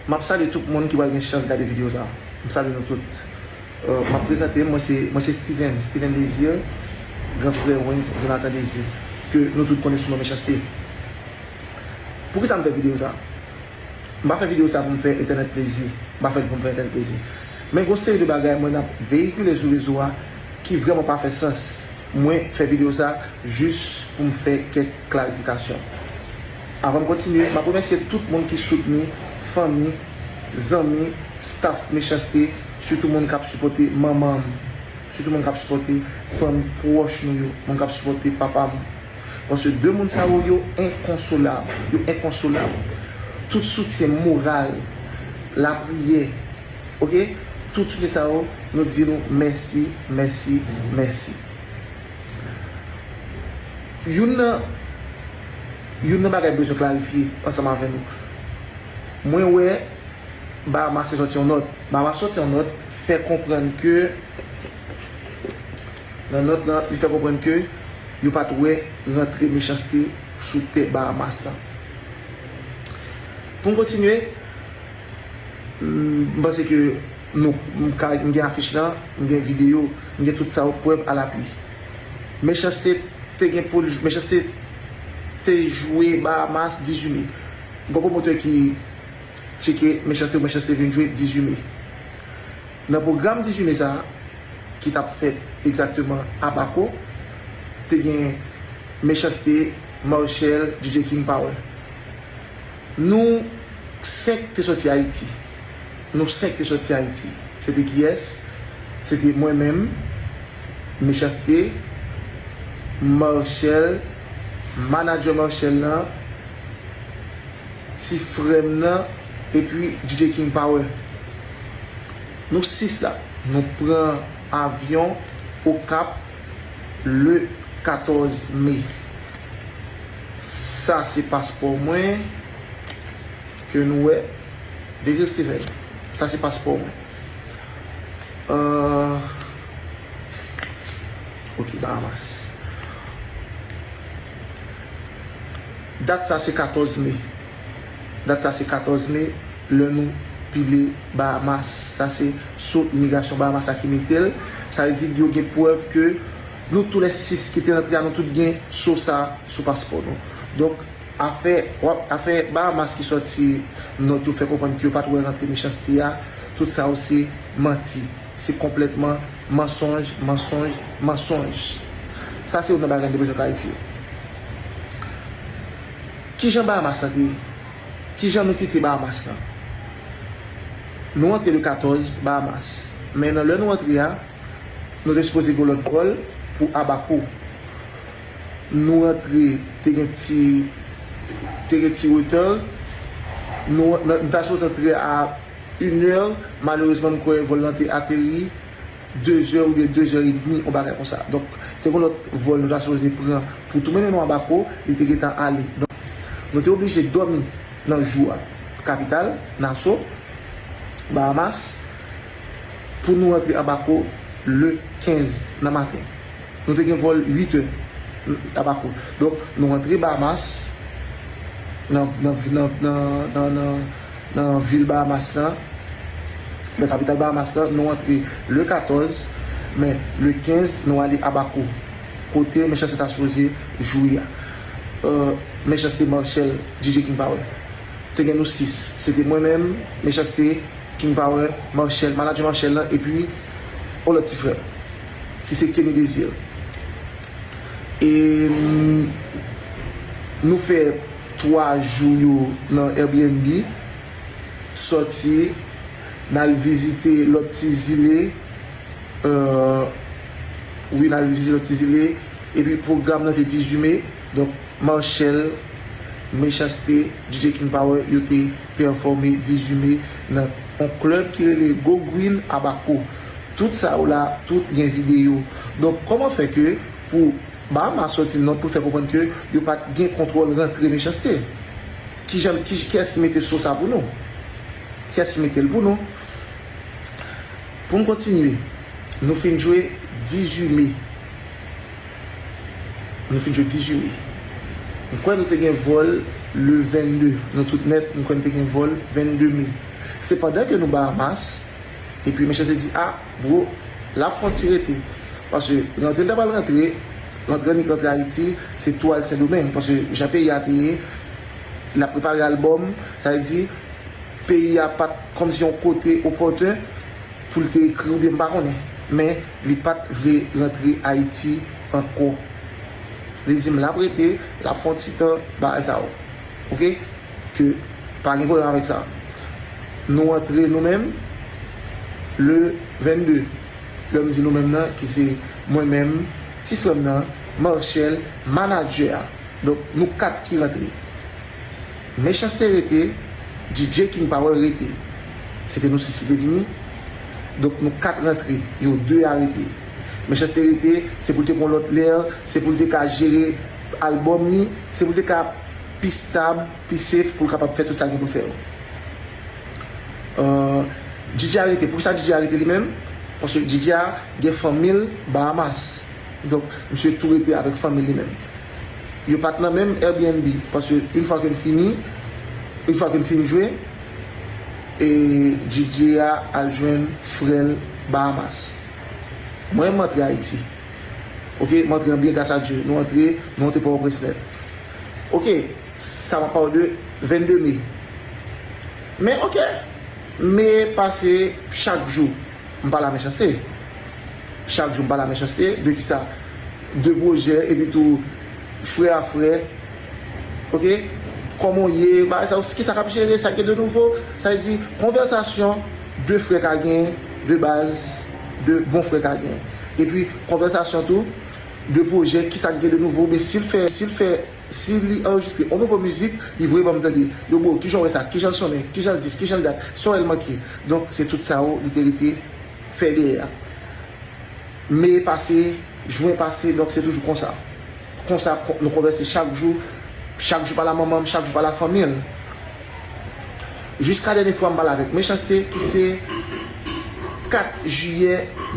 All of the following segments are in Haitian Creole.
Map salye tout moun ki pral gen chans gade video sa. M salye nou tout. Map prezante m, mwen se Steven, Steven Desir, gran frè Wens Jonathan Desir, ke nou tout konnen sou non Mechanste. Poukisa m fè video sa? M pa fè video sa pou m fè entènèt plezi, m pa fè l pou m fè entènèt plezi. Men gon seri de bagay mwen ap veyikile sou rezo a ki vrèman pa fè sans. Mwen fè video sa jis pou m fè kèk klarifikasyon. Avan m kontinye, m ap remèsye tout moun ki soutni, fanmi, zanmi, staff Mechanste, sitou moun k ap sipòte manman m, sitou moun k ap sipòte fanmi pwòch nou yo, moun k ap sipòte papa m. Paske de moun sa yo, yo enkonsolab, yo enkonsolab. Tout soutyen moral, lapriyè, ok, tout soutyen sa yo, nou di nou mèsi, mèsi, mèsi. Youn nan Youn nan bagay m bezwen klarifye ansanm avè nou. Mwen wè Bahamas te sòti yon nòt. Bahamas sòti yon nòt fè konprann ke nan nòt lan li fè konprann ke yo pa t wè rantre mechanste sou tè Bahamas lan. Pou m kontinye, m panse ke. Nou, m ka, m gen afich lan, m gen videyo, m gen tout sa yo, prèv a lapui. Mechanste te gen pou l, Mechanste te jwe Bahamas 18 me. Gon pwomotè ki tcheke Mechanste pou Mechanste vin jwe 18 me. Nan pwogram 18 me sa a, ki t ap fèt egzakteman Abaco, te gen Mechanste, Marshel, DJ King Power. Nou 5 te sòti Ayiti. Nou 5 te soti Ayiti. Se te kiyès? Se te mwen menm, Mechanste, Marcel, manager Marcel lan, ti frè m nan, epi DJ King Power. Nou 6 la. Nou pran avyon Okap le 14 me. Sa se paspò mwen. Ke nou wè. Deje Steven, sa se paspò mwen. Ahh. Ok, Bahamas. Dat sa se 14 me. Dat sa se 14 me, lè nou pile Bahamas. Sa se so imigrasyon Bahamas la ki mete l. Sa vle di yo gen prèv ke nou tou lè 6 ki te antre a nou tout gen so sa sou paspò nou. Donk. Afè wap afè Bahamas ki sòti nòt yo fè konprann ke yo pat wè rantre mechanste a, tout sa yo se manti, se konplètman mansonj, mansonj, mansonj. Sa se youn nan bagay nou te bezwen klarifye. Kijan Bahamas lan te ye? Kijan nou kite Bahamas lan? Nou antre le 14 Bahamas, men nan lè nou antre a, nou te sipoze gen yon lòt vòl pou Abaco. Nou rantre te gen ti te gen ti retard nou nou ta sot antre a une heure malerezman m kwè vòl lan te ateri deux heures oubyen deux heures et demi yon bagay konsa donk te gen lòt vòl nou ta sipoze pran pou tou mennen nou a bako li te gentan ale donk nou te oblije dòmi nan jou a kapital naso bahamas pou nou rantre a bako le 15 nan maten Nou te gen vòl 8 è tabako donk nou rantre Bahamas nan nan vil Bahamas la nan kapital Bahamas la nou rantre le 14 men le 15 nou ale Abaco kote Mechanste ta sipoze jwe a Mechanste Marshall DJ King Power te gen nou 6 se te mwen menm Mechanste King Power Marshall manager Marshall lan epi yon lòt ti frè m. ki se Kenny Desir e nou fè 3 jou yo nan Airbnb sòti nal vizite lòt ti zile wi nal vizite lòt ti zile epi pwogram nan te 18 me donk Marshell Mechanste DJ King Power yo te pèfòme 18 me nan yon club ki rele Go Green Abaco. Tout sa yo la tout gen video. Donk koman fè ke pou Bahamas soti not poul fè konprann ke yo pat gen kontwòl rantre mechanste? Kijan kiyès ki mete so sa pou nou? Kiyès ki metel pou nou? Poun kontinye nou fin jwe 18 me nou fin jwe 18 me m kwè nou te gen vòl le 22 nou tout nèt m kwè nou te gen vòl 22 me se pandan ke nou Bahamas Epi mesye te di ah bro lap fon ti rete paske rantre li ta pral rantre rantre annik rantre ayiti se tou al sendomeng paske jan peyi a te ye lap prepare album sa vle di peyi a pat kòmsi yon kote opòten poul te ekri oubyen m pa konnen men li pat vle rantre ayiti ankò li dim lap rete lap fon ti tan bagay sa ok. Ke pa gen pwoblèm avèk sa. Nou antre nou menm le 22. Lè m di nou menm nan ki se mwen menm, ti frè m nan, Marchel, manadjè a. Donk nou 4 ki rantre. Mechans-T rete, Djidje King Power rete. Se te nou 6 ki te vini. Donk nou 4 rantre. Yo 2 a rete. Mechans-T rete, se pou l te pran lòt lè, se pou l te ka jere albòm li, se pou l te ka. pi stab, pi safe pou l kapab fè tout sa l gen pou l fè yo. Djidja arete, pou kisa Djidja arete li menm? Paske Djidja gen fanmi l Bahamas. Donk, misye tou rete avèk fanmi l li menm. Yo pa t nan menm Airbnb, paske yon fwa ke n fini, yon fwa ke n fin jwe, Didier a al jwenn frè l Bahamas. Mwen, m antre Ayiti. Ok, m antre an byen gras a Dye. Nou antre, nou monte Pòtoprens nèt. Ok sa map pale de 22 mai men ok me pase chak jou m pa la mechanste chak jou m pa la mechanste de kisa de projè epi tou frè a frè ok koman w ye bagay sa yo kisa kap jere sak gen de nouvo sa vle di konvèsasyon de frè ka gen de baz de bon frè ka gen epi konvèsasyon tou. 2 projè kisak gen de nouvo oubyen sil fè sil fè si li anrejistre on nouvo mizik li voye banm tande yo bro kijan w wè sa kijanl sonnen kijanl dis kijanl dat son el manke donk se tout sa yo li te rete fè dèyè a me pase jwen pase donk se toujou konsa konsa nou konvèse chak jou chak jou pale a manmanm chak jou pale a fanmil. Jiska dènye fwa m pale avèk Mechanste ki se 4 jiyè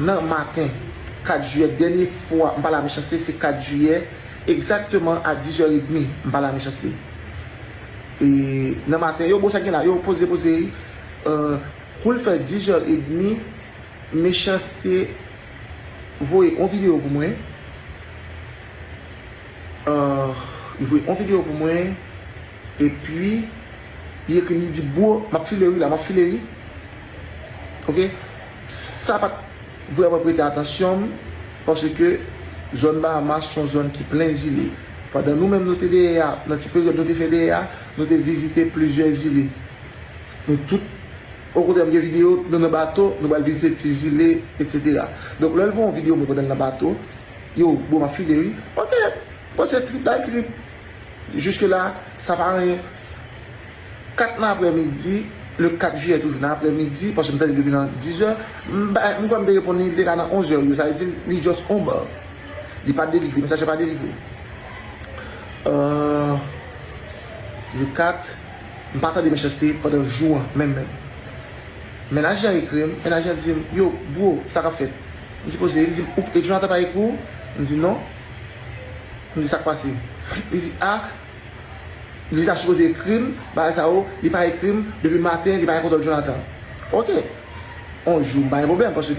nan maten. 4 jiyè dènye fwa m pale a Mechanste se 4 jiyè egzakteman a 10 è edmi m pale a Mechanste. E nan maten yo bon sa gen la yo poze poze kou l fè 10 è edmi Mechanste voye on videyo pou mwen li voye on videyo pou mwen. Epi li ekri m li di bro map file wi la map file wi ok sa pat vrèman prete atansyon m paske zòn Bahamas son zòn ki plen zile pandan nou menm nou te dèyè a nan ti peryòd nou te fè dèyè a nou te vizite plizyè zile nou tout okontrè m gen videyo nou nan bato nou pral vizite ti zile etc donk lè l voye yon videyo mwen kote l nan bato yo bro map file wi ok paske trip la trip. Jiske la, sa pa anyen. 4 nan aprè midi, le 4 jiyè toujou nan aprè midi, paske m tande l depi nan 10 zè, m bay, m kwè m te reponn li, li te ka nan 11 zè yo, sa vle di li just on bar. Li pa delivre, mesaj la pa delivre. Euh, le 4, m pa tande Mechanste pandan jou an menm menm. Mennaj lan ekri m, mennaj lan di m, yo, bro, sa k ap fèt? M di poze, li di m, ou, e Jonathan pa ekri w? M di non. Li di sak pase. Li di ah li ta sipoze ekrim bagay sa yo li pa ekrim depi maten li pa gen kontòl Jonathan. Ok on jou m pa gen pwoblèm paske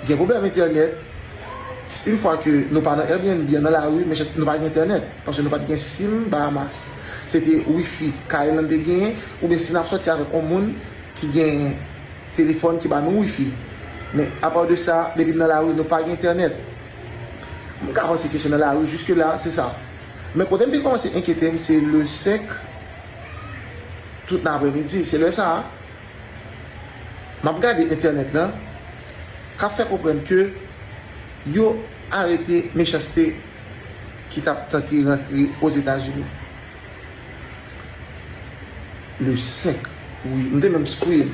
gen pwoblèm entènèt une fois ke nou pa nan Airbnb an nan lari men nou pa gen entènèt paske nou pat gen sim Bahamas se te wifi kay lan te genyen oubyen si nap sòti avèk on moun ki gen telefòn ki ba nou wifi men a part de sa depi n nan lari nou pa gen entènèt. M ka panse ke se nan lari, jiske la, se sa. Men kote m te kòmanse enkyete m, se le 5, tout nan apremidi. Se lè sa a, m ap gade entènèt lan, k ap fè konprann ke yo arete Mechanste ki t ap tante rantre Ozetazini. Le 5, wi. M te menm scream.